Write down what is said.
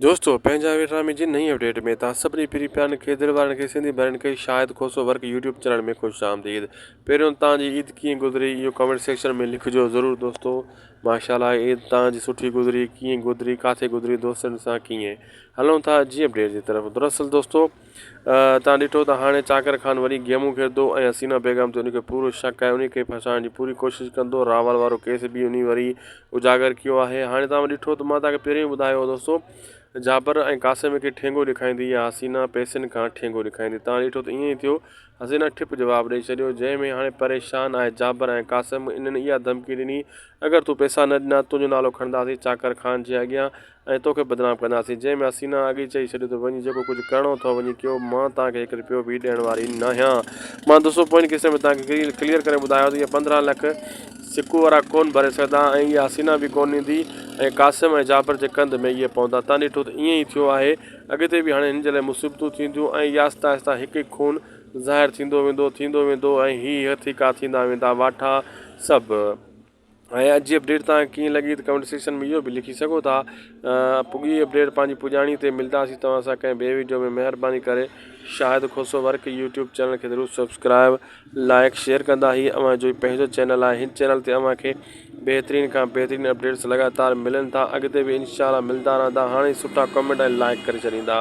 دوستو پنهنجا ويٺا مي جي نئين اپڊيٽ ۾ توهان سڀني پھرين پيارن کيدر وارن کي سنڌي ڀائرن کي Shahid Khoso work YouTube channel ۾ خوش آمديد پهريون توهان جي عيد ڪيئن گذري اهو ڪامينٽ سيڪشن ۾ لکجو ضرور دوستو ماشاءالله عيد توهان جي سٺي گذري ڪيئن گذري ڪاٿي گذري دوستن سان ڪيئن هلون ٿا اڄ جي اپڊيٽ جي طرف دراصل دوستو توهان ڏٺو ته هاڻي چاڪر خان وري گيمون کيڏندو ۽ حسينا بيگم تي ان کي پورو شڪ آهي، انهيء کي ڦاسائڻ جي پوري ڪوشش ڪندو، راول وارو ڪيس به انهيء وري اجاگر ڪيو آهي. هاڻي توهان ڏٺو ته مان توهان کي پهريون ئي ٻڌايو هو دوستو ته جابر ۽ قاسم کي ٺينگو ڏيکائيندي يا حسينا پئسن کان ٺينگو ڏيکائيندي. توهان ڏٺو ته ائين ئي ٿيو، حسينا ٺپ جواب ڏئي ڇڏيو، جنهن ۾ هاڻي پريشان آهي جابر ۽ قاسم انهن اها ڌمڪي ڏني اگر تون پئسا نه ڏنا تنهنجو نالو کڻنداسين چاڪر خان جي اڳيان ۽ توکي بدنام ڪنداسين. جنهن ۾ حسينا اڳئي چئي ڇڏيو ته وڃي جيڪو ڪجهه ڪرڻو اٿئو وڃي ڪيو مان توهان کي هڪ رپيو به ڏيڻ واري ناهيان. مان دوستو پوئين قصي ۾ توهان کي ڪليئر ڪري ٻڌايو ته اهي پندرهن لک سڪو وارا ڪونه ڀري سگهندا ۽ اها حسينا به ڪونه ڏيندي ۽ قاسم ۽ جابر جي ڪنڌ ۾ اهي پوندا. تان ڏٺو ته ائين ئي ٿيو آهي اڳتي به هاڻي هن جي لاء مصيبتون ٿينديون ۽ ياستا آهستا هڪ هڪ خون ظاهر ٿيندو ويندو ٿيندو ويندو ۽ هي هٿي ڪا ٿيندا ويندا واٺا سڀ هيء اڄ جي اپڊيٽ توهان کي ڪيئن لڳي ته ڪمينٽ سيڪشن ۾ اهو به لکي سگهو ٿا. پڳي اپڊيٽ پنهنجي پڄاڻي تي ملداسين توهان سان ڪنهن ٻئي وڊيو ۾ مهرباني ڪري Shahid Khoso work YouTube channel کي ضرور سبسڪرائب لائيڪ شيئر ڪندا هي اوهان جو ئي پنهنجو چينل آهي هن چينل تي اوهان کي بهترين کان بهترين اپڊيٽس لڳاتار ملن ٿا اڳتي به انشاء الله ملدا رهندا هاڻي سٺا ڪمينٽ ۽ لائيڪ ڪري ڇڏيندا.